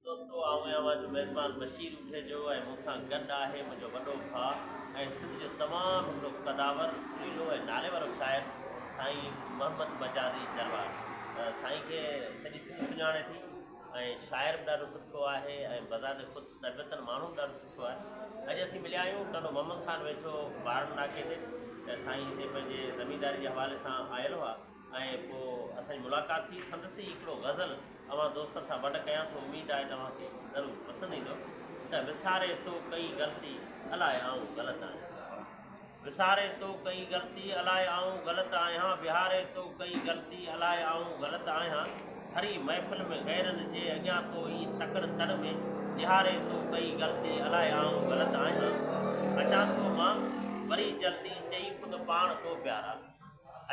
دوستو آئون اوهان جو ميزبان بشير اونٺيجو ۽ مون سان گڏ آهي منهنجو وڏو ڀاء ۽ سنڌ جو تمام هڪڙو قداور، سريلو ۽ ناليوارو شاعر سائين محمد مجازي جروار. سائين کي سڄي سنڌ سڃاڻي ٿي ۽ شاعر به ڏاڍو سٺو آهي ۽ بذات خود طبيعتن ماڻهو به ڏاڍو سٺو آهي. اڄ اسين مليا آهيون ٽنڊو محمد خان ويجهو بارن ناڪي تي ته سائين هتي پنهنجي زمينداري جي حوالي سان آيل هئا. ۽ پوء اسان جي ملاقات ٿي. سندس ئي هڪڙو غزل اوهان دوستن سان ونڊ ڪيان ٿو، اميد آهي ته اوهان کي ضرور پسند ايندو ته وساري تو ڪئي غلطي الاء آئون غلط آهيان. وساري تو ڪئي غلطي الاء آئون غلط آهيان وهاري تو ڪئي غلطي الاء آئون غلط آهيان ڀري محفل ۾ غيرن جي اڳيان تو ايئن تڪڙ تڙ ۾ نهاري تو ڪئي غلطي الاء آئون غلط آهيان اچان ٿو مان وري جلدي چئي خود پاڻ تو پيارا.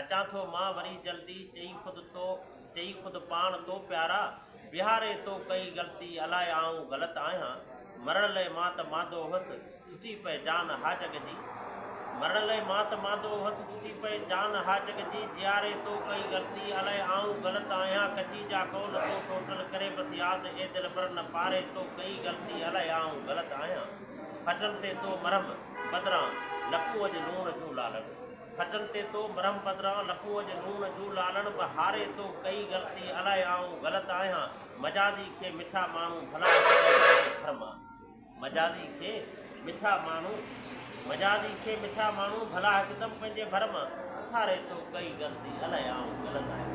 اچان ٿو مان وري جلدي، چئي خود تو، چئي خود پاڻ تو پيارا، بيهاري تو ڪئي غلطي، الاء آئون غلط آهيان، مرڻ لئه مان ته ماندو هوس، ڇٽي پئه جان ها جڳ جي، مرڻ لئه مان ته ماندو هوس، ڇٽي پئه جان ها جڳ جي، جيئاري تو ڪئي غلطي، الاء آئون غلط آهيان، ڪچي جا قول تو ٽوٽل، ڪري بس ياد اي دلبر، نه پاري تو ڪئي غلطي، الاء آئون غلط آهيان، ڦٽن تي تو مرهم بدران، لپون اڄ لوڻ جون لالڙون. ڦٽن تي تو مرهم پدران لکون اڄ نون جون لالڻ به هاري تو ڪئي غلطي الائي آئون غلط آهيان مجازي کي مٺا ماڻهو ڀلا ڪيئن ڪري ڀرمان مجازي کي مٺا ماڻهو مجازي کي مٺا ماڻهو ڀلا هڪدم پنهنجي ڀر مان اٿاري تو ڪئي غلطي الائي آئون غلط آهيان